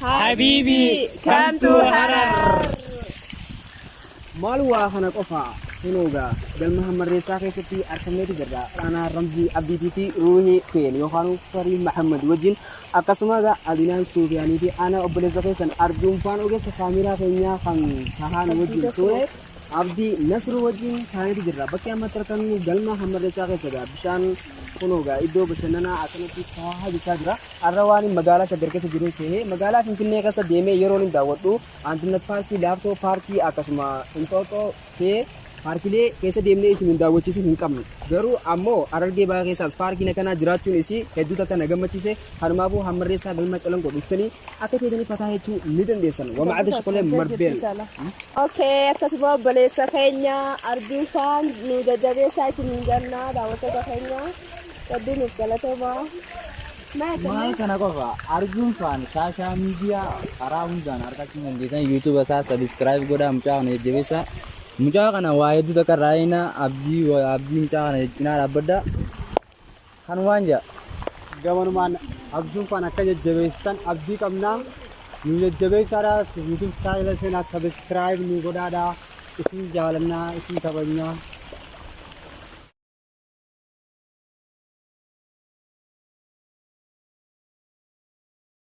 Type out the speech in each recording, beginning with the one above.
Habibi, come to Harar. Maal waa kana qofa kunuuga galma hammarreessaa keessatti argameeti jirra. Aanaa Ramzii Abdiitii fi Ruuhii Feen yookaan Farii Mahammad wajjin akkasuma egaa Adinaan Suufiyaanii fi aanaa obboleessa keessan Arjuun Faan ogeessa kaameeraa keenyaa kan tahaan wajjin ture Abdi Nasr wajjin taaneeti jirra. Bakki amma itti argannu galma hammarreessaa keessadha. Bishaan kunoo gaa iddoo bashannanaa akkanatti taahaa jechaa jira. Har'a waan magaalaa Shaggar keessa jiruun seehee magaalaa Finfinnee keessa deemee yeroon hin daawwadhu Antinnat Paarkii, Laaftoo Paarkii akkasuma Inxooxxoo ta'ee paarkilee keessa deemnee isin hin daawwachiisin hin qabnu. Garuu ammoo Harargee Bahaa keessaas paarkiin akkanaa jiraachuun isii hedduu takka na gammachiise. Kanumaafuu hammarreessaa galma calanqoo dhuftanii akka feetanii fataa jechuu ni dandeessan. Wama adda shokolee marbeen. Okay, akkasuma obboleessa keenya arjuu isaan nu jajjabeessaa isin hin jannaa daawwattoota keenya hedduu nuuf galatoomaa. Maal kana qofa arjuun faan shaashaa miidiyaa karaa hundaan argachuu dandeessan yuutuuba isaa sabiskiraayib godhaa mucaa kana jajjabeessaa. Mucaa kana waa hedduu takka irraa eegnaa abdii abdii mucaa kana cinaa dhaabbadhaa. Kanumaan ja. Gamanumaan Abjuun Fan akka jajjabeessitan abdii qabna. Nu jajjabeessaadha. YouTube channel seenaa subscribe nu godhaadha. Isin jaalanna, isin kabajna.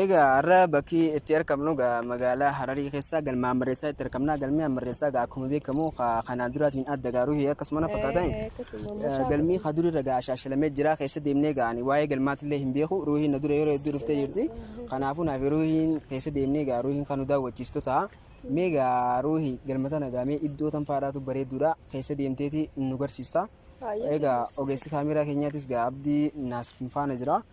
Egaa har'a bakki itti argamnu egaa magaalaa Hararii keessaa galma Hammarreessaa itti argamna. Galmi Hammarreessaa egaa akkuma beekamu ka kanaan duraatiin adda egaa ruhii akkasuma na fakkaatan. Eh, akkasuma Eh, mashaa Galmi Allah. ka durirra egaa shaashalamee jira keessa deemnee egaa ani waa'ee galmaatillee hin beeku ruhiin na dura yeroo hedduu dhuftee jirti. Kanaafuu naaf ruhiin keessa deemnee egaa ruhiin kan nu daawwachiistu ta'a. Mee egaa ruhii galma tana egaa mee iddoo tan faadhaatu bareedduudha keessa deemteeti nu garsiista. Baay'ee Egaa ogeessi kaameeraa keenyaatis egaa abdii naas faana jira.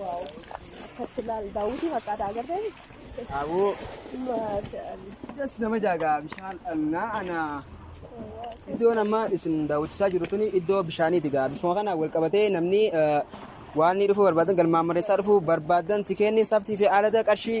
Waaw. Akkatti laal daawwitii fakkaata agartee? Aboo. Maasha Allah. Jas nama jaagaa bishaan dhannaa anaa. Iddoon amma isin daawwachisaa jiru tuni iddoo bishaaniiti gaa. Bifuma kana wal qabatee namni eh, waan inni dhufuu barbaadan galmaan mareessaa dhufuu barbaadan tikeenni saftii fi aalada qarshii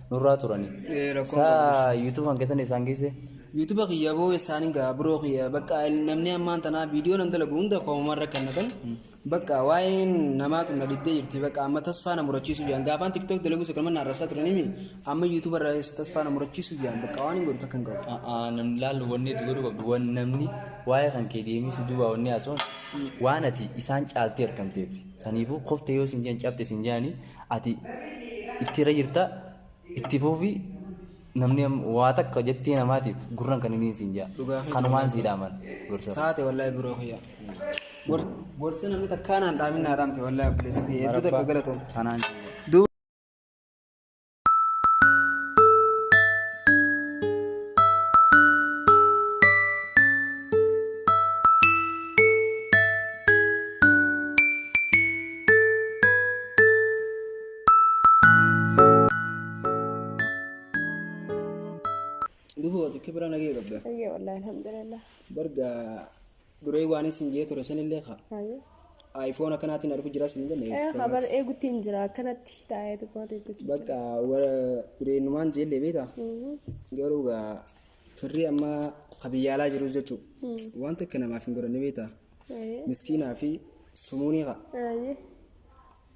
nurraa turani. Eh, rakkoon Saa qabu ishee. YouTube kan keessan isaan geesse. Yuutuba kiyya boo isaan hin ga'a biroo kiyya bakka namni ammaan tanaa viidiyoo nan dalagu hunda koomumaan rakkannatan bakka waa'een namaatu na dhibdee jirti bakka amma tasfaa na murachiisuu jaan gaafaan tiktok dalagu isa kanuma naarrasaa turanimi amma yuutuba irraa tasfaa na murachiisuu jaan bakka waan hin godhu takka hin qabu. A'aa namni laalu wanni itti godhu qabdu wan namni waa'ee kan kee deemee si duuba wanni haasa'uun waan ati isaan caaltee argamteef saniifuu kofte yoo sin jeen cabte sin jeani ati itti irra jirta itti fuufi namni am- waa takka jettee namaatiif gurran kan hiniin siin jaa Dhugaa keeti kanumaan wallahi. sii dhaaman gorsa Taate wallahi biroo kiyya. Gor- Gorsa namni takkaa naan dhaamin naa dhaamte wallahi obboleessa kiyya. Hedduu takka galatoom. kanaan siin jaa Duuba Dufuu ati kibira nagee qabda. Ayyee wallahi alhamdulillah. Barga duree waan isin jee ture sanillee kaa. Ayyee. Ayfoon akkanaatiin argu jira isin jenne. Eh habar eegutti hin jira akkanatti taa'ee tokkoon eegutti. Bakka warra dureenumaan jeellee beektaa? Garuu gaa firri amma qabiyyaalaa jiru jechuudha. Wanta akka namaaf hin godhanne beektaa? Ayyee. miskiinaa fi sumuunii kaa Ayyee.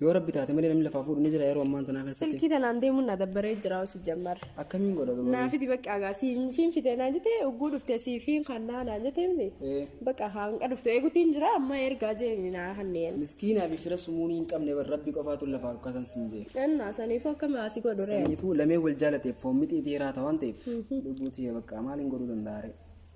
yoo rabbi taate malee namni lafaa fuudhu ni jira yeroo ammaan tanaa keessatti Silkii tanaan deemuun na dabbaree jira osi jammar. akkamiin godha gabaa Naa fidi bakka agaa siin fiin fidee naan jete ugguu dhufte sii fiin kannaa naan jete miti. ee Bakka hanga dhufte eegutiin jira amma ergaa jeeni naa hanneen. miskiinaa fi fira sumuunii hin qabne bar rabbi qofaatu lafaa dhukkasan sin jee Ennaa saniifuu akka maasii godhu re'e. saniifuu lamee wal jaalateef foon mixii dhiiraa ta'an ta'eef lubbuu tiyya bakka maaliin godhuu danda'a ree